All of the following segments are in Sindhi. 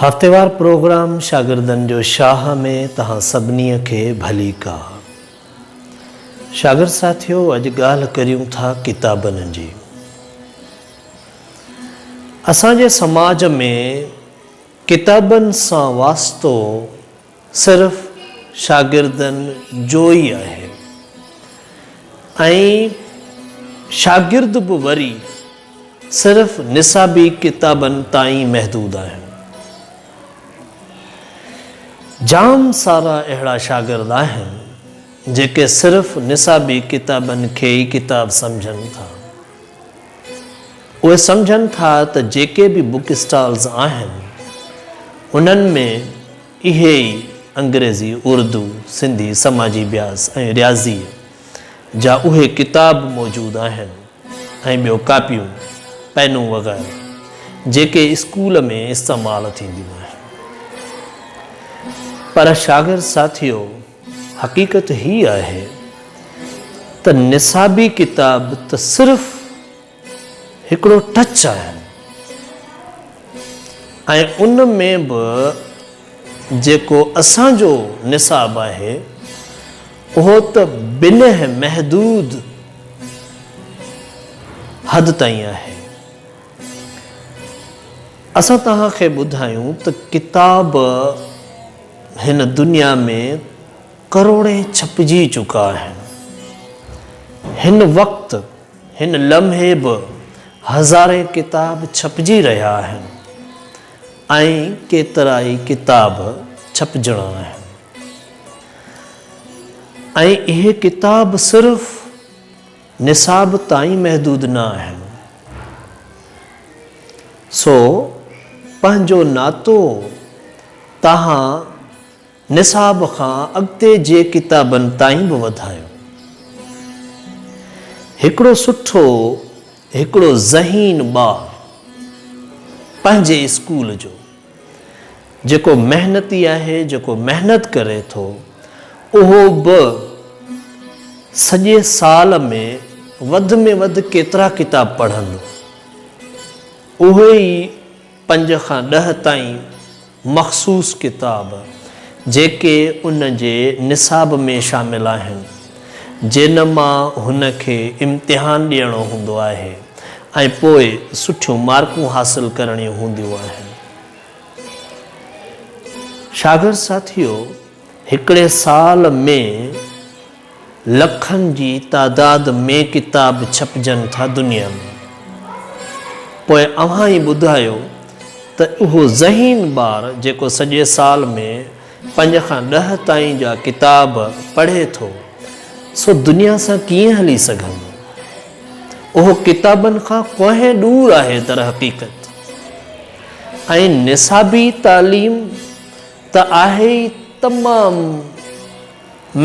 هفتيوار پروگرام شاگردن جو شاهه ۾ توهان سڀني کي ڀليڪا. شاگرد ساٿيو اڄ ڳالهه ڪريون ٿا ڪتابن جي. اسان جي سماج ۾ ڪتابن سان واسطو صرف شاگردن جو ئي آهي ۽ شاگرد به وري صرف نصابي ڪتابن تائين محدود آهن. جام سارا اهڙا شاگرد آهن جيڪي صرف نصابي ڪتابن کي ئي ڪتاب سمجهن ٿا. اهي سمجهن ٿا ته جيڪي به بوڪ اسٽالز آهن انهن ۾ اهي ئي انگريزي، اردو، سنڌي، سماجي بياس ۽ رياضيء جا اهي ڪتاب موجود آهن ۽ ٻيو ڪاپيون، پينون وغيره جيڪي اسڪول ۾ استعمال ٿينديون آهن. پر شاگرد ساٿيو! حقيقت هي آهي ته نصابي ڪتاب ته صرف هڪڙو ٽچ آهن ۽ ان ۾ به جيڪو اسان جو نصاب آهي اهو ته بنهه محدود حد تائين آهي. اسان توهان کي ٻڌايون ته ڪتاب هن دنيا ۾ ڪروڙين ڇپجي چڪا آهن. هن وقت هن لمحي به هزارين ڪتاب ڇپجي رهيا آهن ۽ ڪيترائي ڪتاب ڇپجڻا آهن ۽ اهي ڪتاب صرف نصاب تائين محدود نه آهن، سو پنهنجو ناتو تهان نصاب کان اڳتي جي ڪتابن تائين به وڌايو. هڪڙو سٺو، هڪڙو ذهين ٻار پنهنجي اسڪول جو جيڪو محنتي آهي، جيڪو محنت ڪري ٿو، اهو به سڄي سال ۾ وڌ ۾ وڌ ڪيترا ڪتاب پڙهندو؟ اهي ئي پنج کان ڏهه تائين مخصوص ڪتاب، جيڪي ان جي نصاب ۾ شامل آهن. جنھن مان ھن کي امتحان ڏيڻو ھوندو آھي ۽ پوء سٺيون مارڪون حاصل ڪرڻيون ھونديون آھن. شاگرد ساٿيو! ھڪڙي سال ۾ لکن جي تعداد ۾ ڪتاب ڇپجن ٿا دنيا ۾، پوء اوھان ئي ٻڌايو ته اھو ذھين ٻار جيڪو سڄي سال ۾ پنج کان ڏهه تائين جا ڪتاب پڙهي ٿو سو دنيا سان ڪيئن هلي سگهندو؟ اهو ڪتابن کان ڪوهين ڏور آهي درحقيقت ۽ نصابي تعليم ته آهي ئي تمام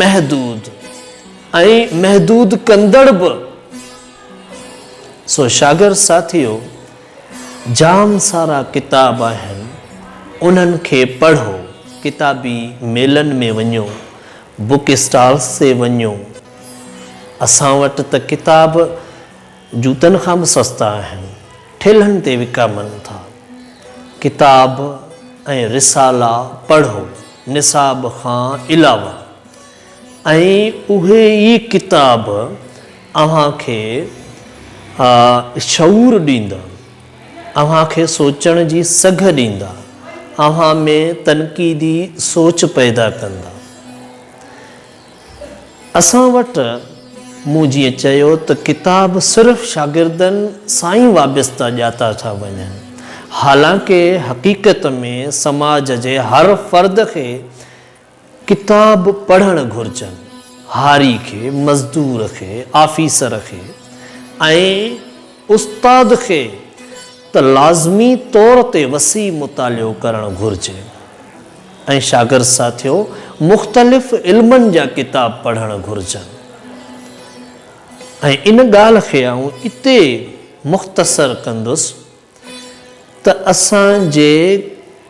محدود ۽ محدود ڪندڙ به سو شاگرد ساٿيو جام سارا ڪتاب آهن انهن کي پڙهو، ڪتابي ميلن ۾ وڃو، بوڪ اسٽالس تي وڃو، اسان وٽ ته ڪتاب جوتن کان به سستا آهن، ٺيلهن تي وڪامن ٿا. ڪتاب ۽ رسالا پڙهو، نصاب کان علاوه. ۽ اهي ئي ڪتاب اوهان کي شعور ڏيندا، اوهان کي سوچڻ جي سگهه ڏيندا، اوهان ۾ تنقيدي سوچ پيدا ڪندا. اسان وٽ مون جيئن چيو ته ڪتاب صرف شاگردن سان ئي وابسته ڄاتا ٿا وڃن، حالانڪه حقيقت ۾ سماج جي هر فرد کي ڪتاب پڙهڻ گهرجن، هاري کي، مزدور کي، آفيسر کي ۽ استاد کي ته لازمي طور تي وسيع مطالعو ڪرڻ گهرجي ۽ شاگرد ساٿيو مختلف علمن جا ڪتاب پڙهڻ گهرجن ۽ ان ڳالهه کي آئون اتي مختصر ڪندس. ته اسان جي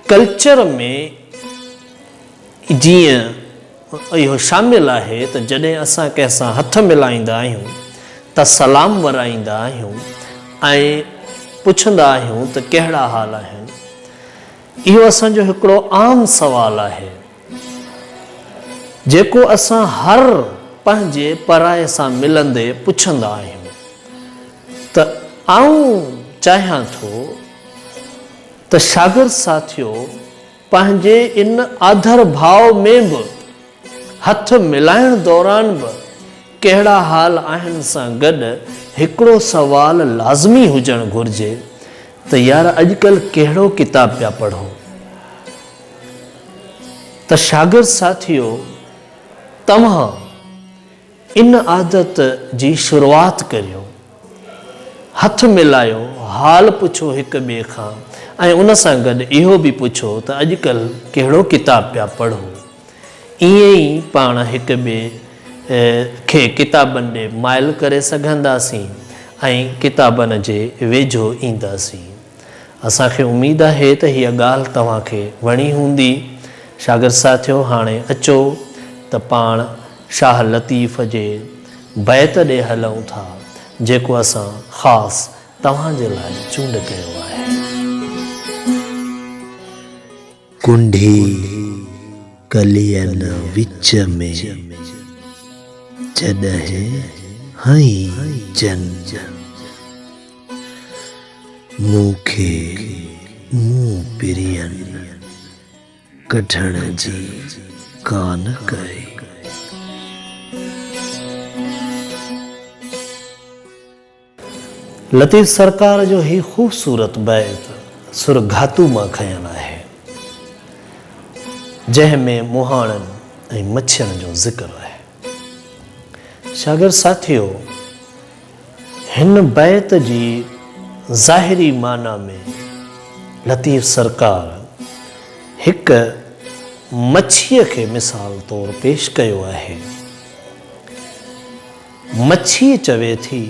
ڪلچر ۾ جيئن اهو شامل آهي ته جڏهن اسان ڪنهن سان هٿ ملائيندا آهيون ته سلام ورائيندا آهيون ۽ پڇندا آهيون ته ڪهڙا حال آهن اهو اسان جو هڪڙو عام سوال آهي. جيڪو اسان هر پنهنجي پرائي سان ملندي پڇندا آهيون ته آئون چاهيان ٿو ته شاگرد ساٿيو پنهنجي ان آڌر ڀاء ۾ به هٿ ملائڻ دوران به ڪهڙا حال آهن سان گڏ هڪڙو سوال لازمي هجڻ گهرجي ته يار اڄڪلهه ڪهڙو ڪتاب پيا پڙهو؟ ته شاگرد ساٿيو توهان ان عادت جي شروعات ڪريو، هٿ ملايو، حال پڇو هڪ ٻئي کان ۽ ان سان گڏ اهو به پڇو ته اڄڪلهه ڪهڙو ڪتاب پيا پڙهو. ائين ئي پاڻ هڪ ٻئي کي ڪتابن ڏي مائل ڪري سگهنداسين ۽ ڪتابن جي ويجهو اينداسين. اسان کي اميد آهي ته هيء ڳالهه توهان کي وڻي هوندي. شاگرد ساٿيو هاڻي اچو ته پاڻ شاهه لطيف جي بيت ڏي هلئون ٿا جيڪو اسان خاص توهان جي لاء چونڊ ڪيو آهي. ڪنڍي ڪلين وچ ۾، جڏهن هنئين جنگ. مون کي مون پرين ڪڍڻ جي ڪانه ڪئي. لطيف سرڪار جو هي خوبصورت بيت سر گهاتو مان کنيل آهي، جنهن ۾ مهاڻن ۽ مڇين جو ذڪر آهي. شاگرد ساٿيو! هن بيت جي ظاهري معنيٰ ۾ لطيف سرڪار هڪ مڇيء کي مثال طور پيش ڪيو آهي. مڇي چوي ٿي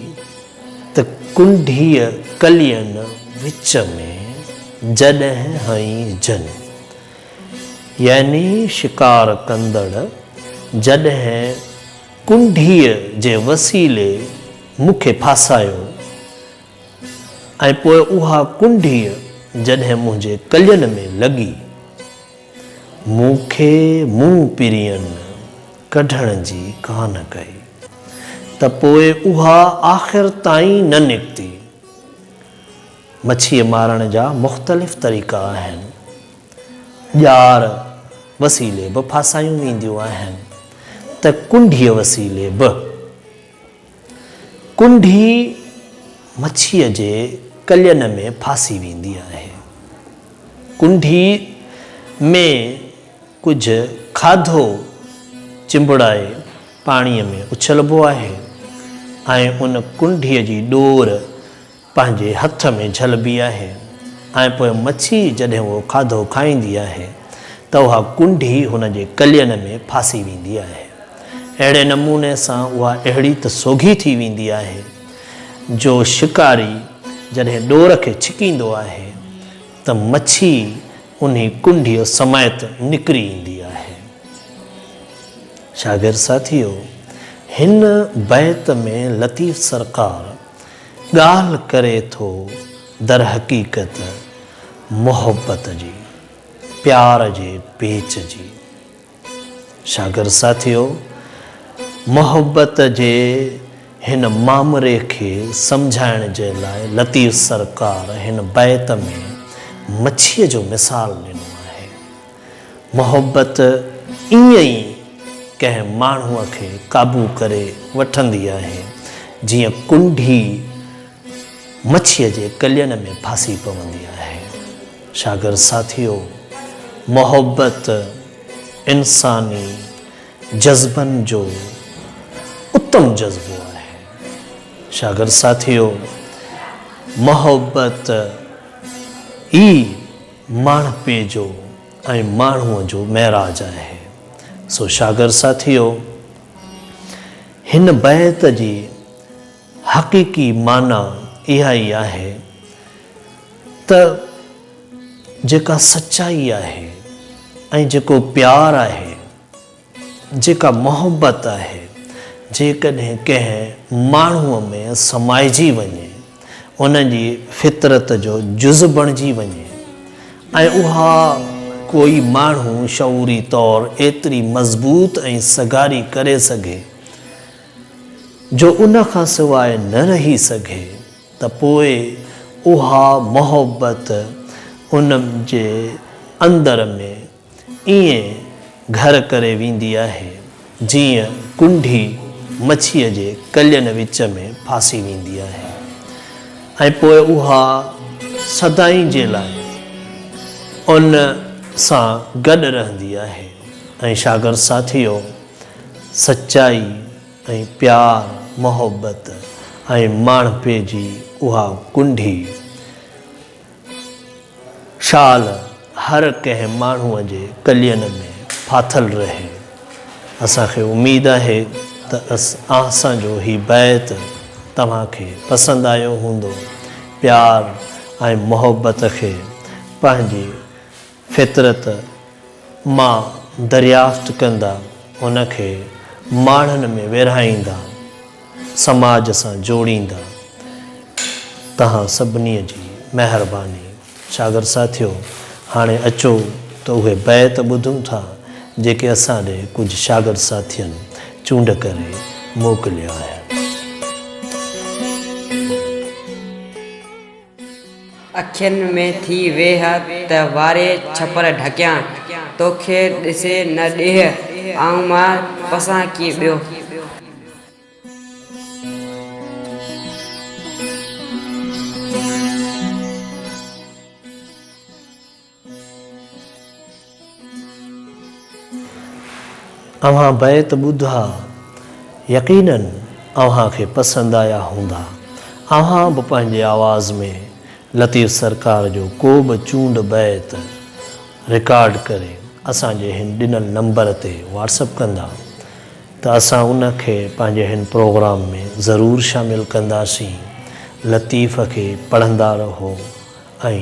ته ڪنڍيء ڪلين وچ ۾ جڏهن هنئين جن، يعني شڪار ڪندڙ جڏهن ڪنڍيء جي وسيلي مون کي ڦاسايو ۽ پوء اها ڪنڍيء جڏهن منهنجي ڪلين ۾ لڳي، مون کي مون پرين ڪڍڻ جي ڪانه ڪئي ته پوء اها آخر تائين نه نڪتي. مڇيء مارڻ جا مختلف طريقا آهن. ڄار وسيلي به ڦاسايون وينديون آهن ته ڪنڍيء وسيلي به. ڪنڍي مڇيء جي ڪلين ۾ ڦاسي ويندي آهي. ڪنڍي ۾ ڪجهه کاڌو چنبڙائي پاڻيء ۾ اڇلبو آهي ۽ ان ڪنڍيء جي ڏور پنهنجي هٿ ۾ جهلبي آهي ۽ پوء مڇي جڏهن اهو کاڌو کائيندي آهي ته اها ڪنڍي هن جي ڪلين ۾ ڦاسي ويندي آهي. اهڙي نموني سان اها اهڙي ته سوگهي ٿي ويندي آهي جو شڪاري جڏهن ڏور کي ڇڪيندو آهي ته مڇي انهي ڪنڍيء سميت نڪري ايندي آهي. شاگرد ساٿيو! هن بيت ۾ لطيف سرڪار ڳالهه ڪري ٿو درحقيقت محبت جي، پيار جي پيچ جي. شاگرد ساٿيو! محبت جي هن مامري کي سمجهائڻ جي لاء لطيف سرڪار هن بيت ۾ مڇيء جو مثال ڏنو آهي. محبت ائين ئي ڪنهن ماڻهوء کي قابو ڪري وٺندي آهي، جيئن ڪنڍي مڇيء جي ڪلين ۾ ڦاسي پوندي آهي. شاگرد ساٿيو! محبت انساني جذبن جو اتم جذبو آهي. شاگرد ساٿيو! محبت ئي ماڻهپي جو ۽ ماڻهوء جو معراج آهي. سو شاگر ساٿيو! هن بيت جي حقيقي معنيٰ اها ئي آهي ته جيڪا سچائي آهي ۽ جيڪو پيار آهي، جيڪا محبت آهي، جيڪڏهن ڪنهن ماڻهوء ۾ سمائجي وڃي، ان جي فطرت جو جز بڻجي وڃي ۽ اها ڪوئي ماڻهو شعوري طور ايتري مضبوط ۽ سگهاري ڪري سگهي، جو ان کان سواء نه رهي سگهي، ته پوء اها محبت ان جي اندر ۾، ائين گهر ڪري ويندي آهي، جيئن ڪنڍي مڇيء جي ڪلين وچ ۾ ڦاسي ويندي آهي ۽ پوء اها سدائين جي لاء ان سان گڏ رهندي آهي ۽ شاگرد ساٿيو! سچائي ۽ پيار، محبت ۽ ماڻهپي جي اها ڪنڍي، شال هر ڪنهن ماڻهوء جي ڪلين ۾ ڦاٿل رهي. اسان کي اميد آهي ته اسان جو هي بيت توهان کي پسند آيو هوندو. پيار ۽ محبت کي پنهنجي. فطرت مان دريافت ڪندا، ان کي ماڙهن ۾ ويرهائيندا، سماج سان جوڙيندا. توهان سڀني جي مهرباني. شاگرد ساٿيو، هاڻي اچو ته اهي بيت ٻڌون ٿا، جيڪي اسان ڏي ڪجهه شاگرد ساٿين چونڊ ڪري موڪليا آهن. اکين ۾ ٿي ويهه ته واري ڇپر ڍڪيان، توکي ڏسي نه ڏيهه، آئون مان پسان ڪي ٻيو. اوهان بيت ٻڌا، يقيناً اوهان کي پسند آيا هوندا. اوهان به پنهنجي آواز ۾ لطيف سرڪار جو ڪو به چونڊ بيت رڪارڊ ڪري اسان جي هن ڏنل نمبر تي واٽسپ ڪندا ته اسان ان کي پنهنجي هن پروگرام ۾ ضرور شامل ڪنداسين. لطيف کي پڙهندا رهو ۽